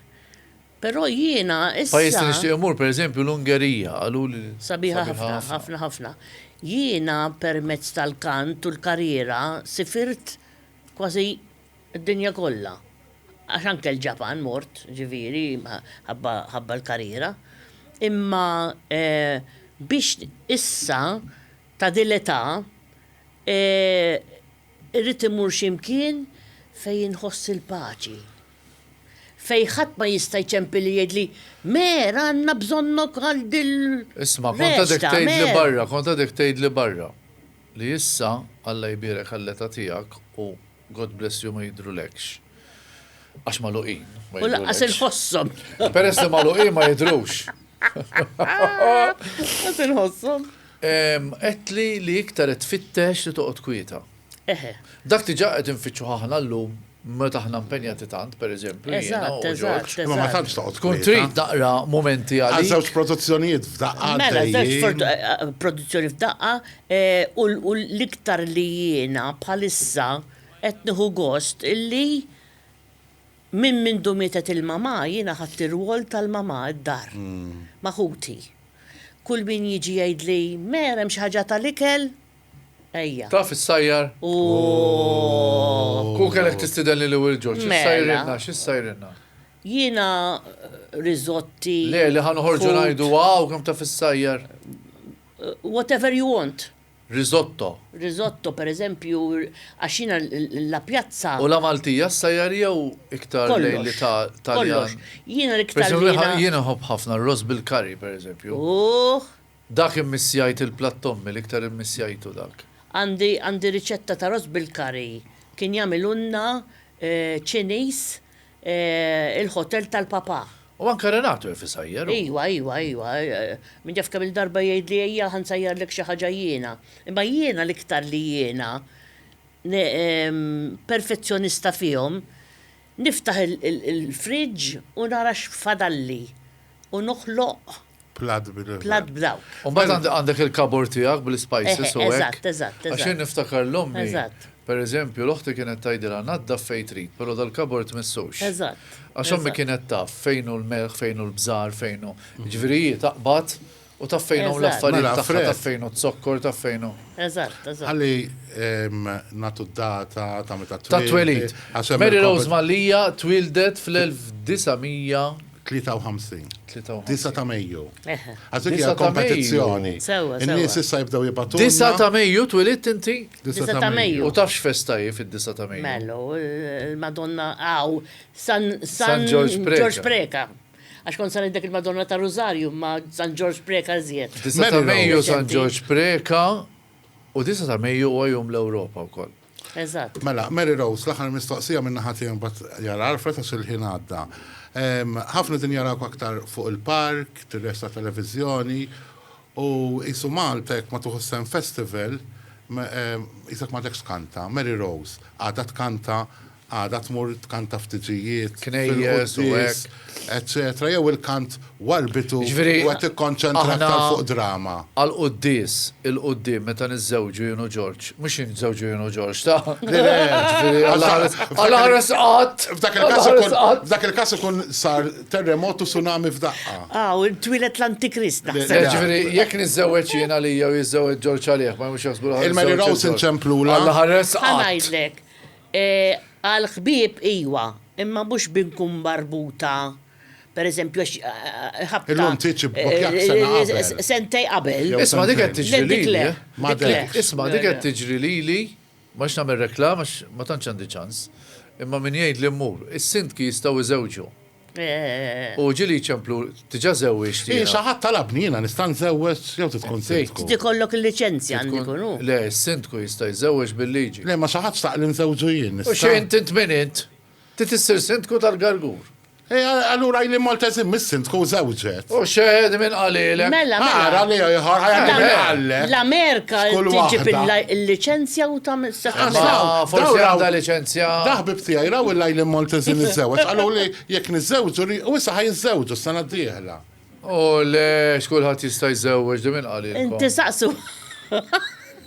Però jiena issa. Pajjiż li nixtieq immur, per eżempju, l-Ungerija, qaluli li. Sabiħa ħafna, ħafna, ħafna. Jiena permezz tal-kant u l-karriera sifirt kważi Id-dinja kollha, għax anke l-Ġapan mort, ġifieri, ħabba l-karriera. Imma biex issa ta' din l-età irrid immur xi mkien fejn inħoss il-paċi. Fejn ħadd ma jista' jċempilli jgħidli, Mer, għandna bżonnok għal din l-resta, mer. Isma', kont għadek tgħidli barra, kont għadek tgħidli barra li issa, Alla jbierek għall-età tiegħek u God bless you ma jidrulekx. Għax maluqin. U laqqas il-ħossom. Peress li maluqin ma jidrux. Għas il-ħossom. Etli li iktar tfittex li toqgħod kwieta. Dak li ġaqet infittxu ħahna l-lum meta aħna impenjati tant, per eżempju, eżatt, eżatt. Ma ma tantx toqgħod. Tkun trid naqra momenti għal. Għal żewġ produzzjonijiet f'daqqa. Mela, żewġ eh, eh, produzzjoni f'daqqa, U l-iktar li jiena bħalissa qed nieħu gost illi minn mindu mietet il-mamà jiena ħadt ir-rwol tal-mamà d-dar ma' ħuti. Kull min jiġi jgħidli, Mer, hemm xi ħaġa tal-ikel? Ejja. Taf issajjar? Ooh! Kieku kellek tistidenni lil Wil Ġorġ, issajrilna, xi ssajrilna? Jiena riżotti. Le, li ħa noħorġu ngħidu, Wow, kemm taf issajjar! whatever you want. Risotto. Risotto, per eżempju, għax jiena La Piazza. U la Maltija ssajjar jew iktar lejn l-Italjan? Kollox, kollox. Jiena l-iktar li. Jiena nħobb ħafna r-ross bil-curry, per eżempju. Uħ! Dak immissjajt il-platt ommi, l-iktar immissjajtu dak. Għandi, għandi riċetta ta' ross bil-curry. Kien jagħmilulna Ċiniż il-Hotel tal-Papà. U anke Renato jaf isajjar hu. Iwa, iwa, iwa. Min jaf kemm-il darba jgħidli ejja ħa nsajjarlek xi ħaġa jiena. Imma jiena l-iktar li jiena perfezzjonista fihom, niftaħ il-fridge u nara x'fadalli u noħloq Plat b'nivell. Plat b'dawk. U mbagħad għandek il-kabor tiegħek bl-ispices u hekk. Eżatt, eżatt. Għax jien niftakar l-ommi. Eżatt. Per eżempju, l-oħti kienet tgħidilha naddaf fejn trid, però dal-kabor tmissux. Eżatt. Għax ommi kienet taf fejn hu l-melħ, fejn hu l-bżar, fejn hu. Jiġifieri hi taqbad u taf fejn hawn l-affarijiet mela, tagħha, taf fejn hu z-zokkor, taf fejn hu. Eżatt, eżatt. Ħalli nagħtu d-data ta' meta twildet. Ta' twelid. Mary Rose Mallia twildet fl-1900. 53. 9 ta' Mejju. Għax dik hija kompetizzjoni. In-nies issa jibdew jibatu. 9 ta' Mejju twilidt inti? 9 ta' Mejju. U tafx festa hi fid-9 ta' Mejju? Mellu, il-Madonna għaw San Ġorġ Preca. Għax kont saret dik il-Madonna ta' Rużarju ma' San Ġorġ Preca żjed. 9 ta' Mejju San Ġorġ Preca u 9 ta' Mejju huwa jum l-Ewropa wkoll. Eżatt. Mela, Mary Rose, l-aħħar mistoqsija minn naħa tiegħi mbagħad jar Alfred għax il-ħin għadda. Ehm, ħafna din jarawk aktar fuq il-park, tirrex ta' televiżjoni, u qisu Malta jekk ma tuħu sehem festival, ehm, qisek m'għadekx tkanta. Mary Rose, għadha tkanta Għada tmur tkanta f'tiġijiet, fil-quddies, eċċetera, jew il-kant warbitu u qed tikkonċentra aktar fuq drama? Jiġifieri, aħna għall-quddies, il-quddiem, meta niżżewġu jien u Ġorġ, mhux jien niżżewġu jien u Ġorġ, ta? Le, le, jiġifieri, Alla ħares qatt! F'dak il-każ ikun sar terremot u tsunami f'daqqa. Ah, u twieled l-Antikrist, naħseb. Le, jiġifieri, jekk niżżewweġ jien għalija u jiżżewweġ Ġorġ għalih, ma jkunux jaħsbu li ħa niżżewweġ lil Ġorġ. Il-Mary Rose inċemplulha. Alla ħares qatt! Ħa ngħidlek. Għall-ħbieb iwa, imma mhux bi nkun marbuta, pereżempju għax ħabta. Illum tgħidx ibbukjak sena qabel. Sentejn qabel. Isma' dik qed tiġri lili. Isma' dik qed tiġri lili, ma rridx nagħmel reklama għax ma tantx għandi ċans, imma min jgħidli mmur, is-sindki jistgħu jżewġu. U ġieli jċemplu, Diġà żewwiġt jiena. Hi, xi ħadd talabni jiena nista' nżewweġ jew trid tkun sindku? Trid ikollok il-liċenzja għand ikun hu. Le, is-sindku jista' jżewweġ bil-liġi. Le, ma xi ħadd xtaq li nżewwġu jien, nista'? U xejn, int min int? Trid issir sindku tal-Gargur. Hi, allura ili Malteżin mhix sindku, żewġet. U xehed minn qalilek. Mela, mela. Ara li ieħor ħajja minn qalilek. L-Amerika tiġib il-liċenzja u ta' ah, Forsi għandha liċenzja. Daħbib tiegħi raw il-lajli Maltez niżżewġ. Qalu li jekk niżżewġu li u issa ħajżżewġu s-sena d-dieħla. U le, xkulħadd jista' jżewġ di minn qalilek. Inti saqsu.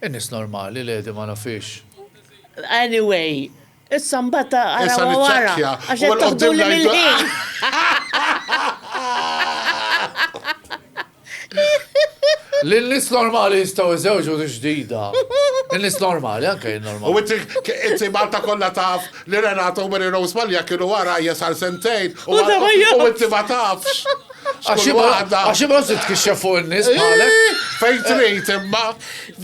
In-nies normali l-għedi ma nafhiex. Anyway, issa mbagħad arawha wara għax qed toħduli mill-ħin. Li n-nies normali jistgħu jżewġu hi ġdida. In-nies normali, anke jien normali. U inti, inti Malta kollha taf li Renato u Mary Rose Mallia kienu wara hija sar sentejn u inti ma tafx. Għax waħda. Għax imma se tkixxef fuq in-nies bħalek. Eh, fejn trid imma.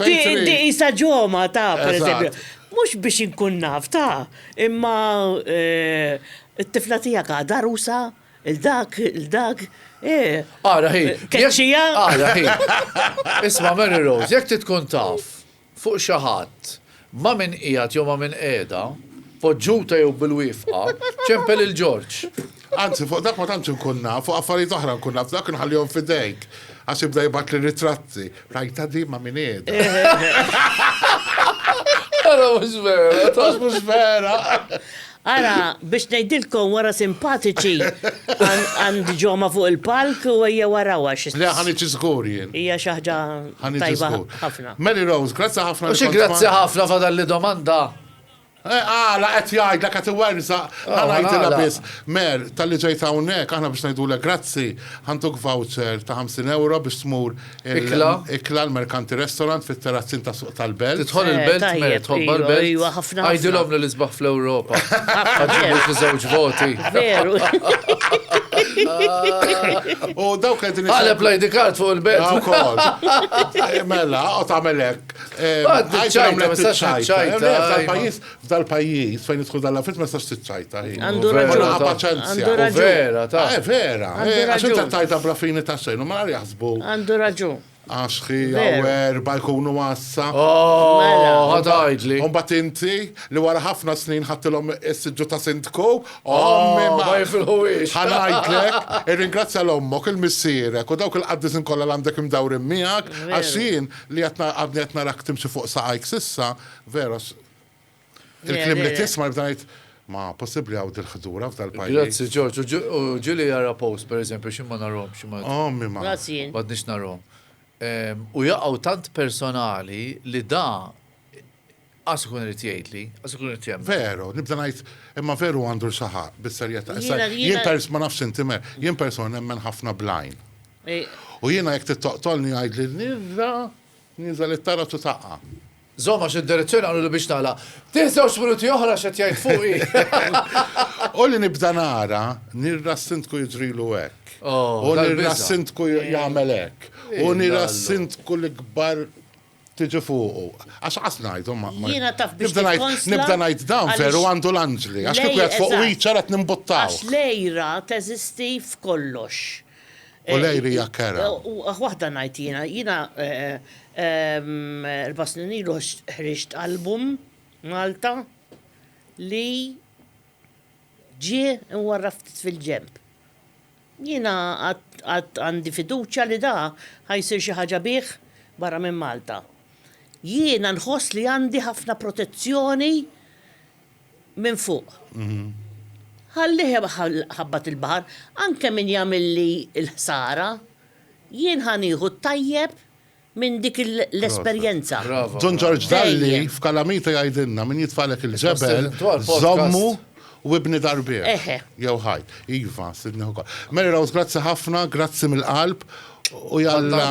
Di isa ġoma ta' pereżempju. Mhux biex inkun naf ta' imma eh, it-tifla tiegħek għadha rusa il-dak, il-dak. Eh. Ara hi. Keċċija. Ara hi. Isma' Mary Rose, jekk tkun taf. fuq xi ħadd, ma' min qiegħed jew ma' min qiegħda, poġġuta jew bil-wiefqa, ċempel lil Ġorġ. Anzi, fuq dak ma tantx inkun naf, fuq affarijiet oħra nkun naf, dak inħallihom f'idejk, għax jibda jibgħatli ritratti. Rajtha din ma' min qiegħda. Ara mhux vera! Għax mhux vera! Ara, biex ngħidilkom wara simpatiċi għand ġoma fuq il-palk u ejjew warawha xi. Le ħaniġi żgur jien. Hija xi ħaġa tajba ħafna. Mary Rose, grazzi ħafna. U xi grazzi ħafna fadalli domanda. Għala qed jgħidlek qed iwerżaq, ħa ngħidilha biss. Mer, talli ġejt hawnhekk, aħna biex ngħidulek grazzi, ħa ntuk voucher ta' 50 ewro biex tmur Ikla. Ikla l-Merkanti Restaurant fit-Terrazzin ta' Suq tal-Belt. Tidħol eh, il-Belt, mer, tħobba l-Belt. Ejwa, ħafna. Għajdilhom li l-isbaħ fl-Ewropa. Għadġibu fi żewġ voti. Veru. U dawk qegħdin. Għaleb lajdi kart fuq il-Belt. Ukoll. Eh, mela, u tagħmel hekk. Eh, Għajdilhom li ċajta. Tal-pajjiż F'dal pajjiż fejn idħol dal affett ma tistax tiċċajta hi. Għandu raġun. Kollha paċenzja. U vera, ta. Eh, vera. Għax inta tajta bla fini ta' xejn u mara jaħsbu. Għandu raġun. Għax hi għawer ba jkunu għassa. Oh, mela. ħadajdli. Un bat inti li wara ħafna snin ħattilhom is-siġġu ta' sindku. Oh, ma jifilħuwiex. Ħanajtlek, irringrazzja l-ommok, il-missierek u dawk il-qaddisin kollha għandek imdawrin miegħek għax jien li għadni qed narak timxi fuq saqajk sissa, vera Il-klim li tisma' jibda jgħid ma possibbli għaw dil-ħdura f'dal-pajjiż. Grazzi Ġorġ, u ġili jara post pereżempju xi ma narhom xi ma. Ommi ma. Grazzi. M'għadniex narhom. U jaqgħu tant personali li da qas ikun irid jgħidli, qas ikun irid jemmen. Veru, nibda ngħid, imma veru għandu l-xaħa bis-serjetà. Jien pers ma nafx inti mer, jien persuna nemmen ħafna blajn. U jiena jekk tittoqtolni jgħidli nirra, niżel it-tara tu taqqa. Żomm għax id-direzzjoni qalu li biex tagħlaq. Tih żewġt minuti oħra x'qed jgħid fuqi. U li nibda nara, nirra s-Sindku jiġrilu hekk. U nirra s-Sindku jagħmel hekk. U nirra s-Sindku l-ikbar tiġi fuqu. Għax għas najdu ma. Jina taf biex nibda najt dan veru għandu l-anġli. Għax kif għed fuq wiċċa għed nimbuttaw. Għax lejra teżisti f'kollox. U lejli hija kerha. Waħda ngħid jiena, jiena erba' snin ilu ħriġt album Malta li ġie mwarrab ftit fil-ġenb. Jiena għad għandi fiduċja li da ħa jsir xi ħaġa bih barra minn Malta. Jiena nħoss li għandi ħafna protezzjoni minn fuq. Ħallih iħabbat il-baħar, anke min jagħmilli l-ħsara, jien ħa nieħu t-tajjeb minn dik l-esperjenza. Dun Ġorġ Dalli f'Kalamita jgħidilna, min jitfagħlek il-ġebel, żommu u ibni dar bih. Jew ħajt. Iva, Sidni Hooker. Mary Rose, grazzi ħafna, grazzi mill-qalb. U jalla.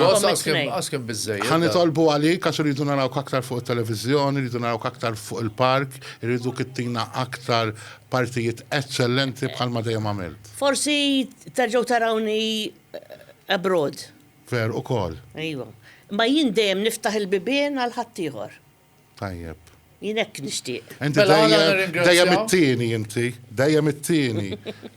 Għaskem bizzej. Għan itolbu għalik, għax rridu naraw kaktar fuq il-televizjoni, rridu naraw kaktar fuq il-park, rridu kittina aktar partijiet eccellenti bħal ma dejjem għamilt. Forsi terġaw tarawni abroad. Ver u kol. Ejwa. Ma jien dejjem niftaħ il-bibien għal ħaddieħor. Tajjeb. Jien hekk nixtieq. Inti dejjem it-tieni inti, dejjem it-tieni.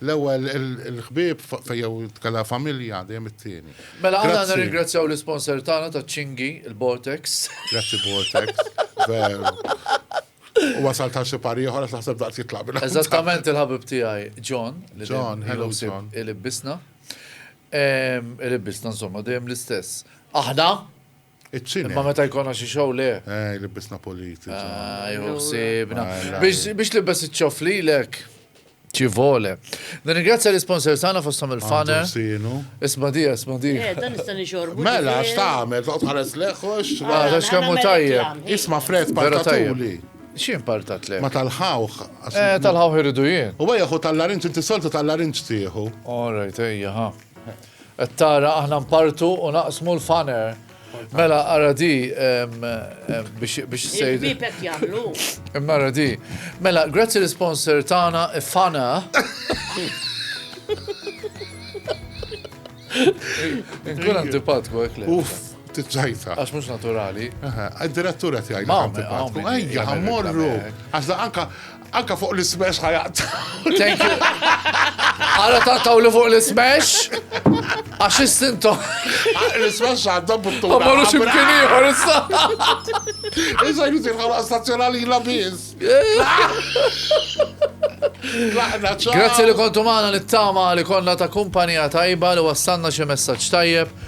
L-ewwel il-ħbieb fejjew tkella familja dejjem it-tieni. Mela aħna nirringrazzjaw l-isponsor tagħna taċ-ċingi, il-Vortex. Grazzi Vortex. Veru. U wasal ta' xi pari ieħor għax naħseb daqs jitlaq bil Eżattament il-ħabib tiegħi John. John, hello John. Il-ibbisna. Il-ibbisna insomma dejjem l-istess. Aħna Iċ-ċine. Imma meta jkollna xi show le. Eh, libbisna politi. Ah, jew sibna. Biex libbes iċ-ċof lilek. Ci vole. Nirringrazzja l-sponsor tagħna fosthom il-faner. Isma' di, isma' di. Eh, dan nista' nixorbu. Mela, x'tagħmel, toqgħod ħares leħħox. Ah, għax kemm hu tajjeb. Isma' fred partatuli. Xi impartat le? Ma tal-ħawħ. Eh, tal-ħawħ irridu jien. U għajja hu tal-larinċ, inti soltu tal-larinċ tieħu. All right, ejja, ha. Qed tara aħna npartu u naqsmu l-faner. Mela ara di biex sejdu. Il-bibek jagħmlu. Imma ara di. Mela, grazzi l-sponsor tagħna Fana. Nkun antipatku hekk le. Uff, tiċċajta. Għax mhux naturali. Id-direttura tiegħi. Mamma, għajja, ħammorru. Għax anka Anka fuq l-ismash ħajaqta. Thank you. Għara taqtaw li fuq l-ismash? Għax istinto. Ah, l-ismash għadda buttu. Ma marru ximkien iħor issa. Issa jizir ħala stazzjonali la biz. Grazie li kontu maħna li t-tama li konna ta' kumpanija tajba li wassanna xie messaċ tajjeb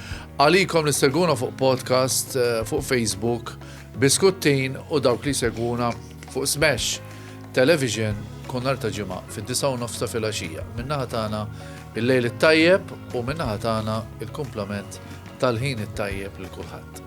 għalikom li seguna fuq podcast, eh, fuq Facebook Biskuttin u dawk li jsegwuna fuq Smash Television kull nhar ta' Ġimgħa fid-disgħa u nofs ta' filgħaxija. Min-naħa tagħna il-lejl it-tajjeb u min-naħa tagħna il-kumplament tal-ħin it-tajjeb lil kulħadd.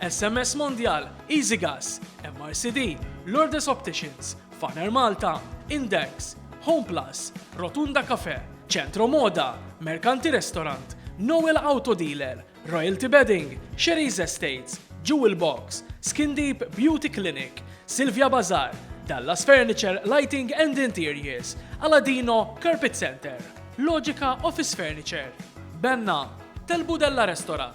SMS Mondial, Easy Gas, MRCD, Lourdes Opticians, Faner Malta, Index, Home Plus, Rotunda Cafe, Centro Moda, Mercanti Restaurant, Noel Auto Dealer, Royalty Bedding, Sherry's Estates, Jewel Box, Skin Deep Beauty Clinic, Silvia Bazar, Dallas Furniture Lighting and Interiors, Aladino Carpet Center, Logica Office Furniture, Benna, Telbu Della Restaurant,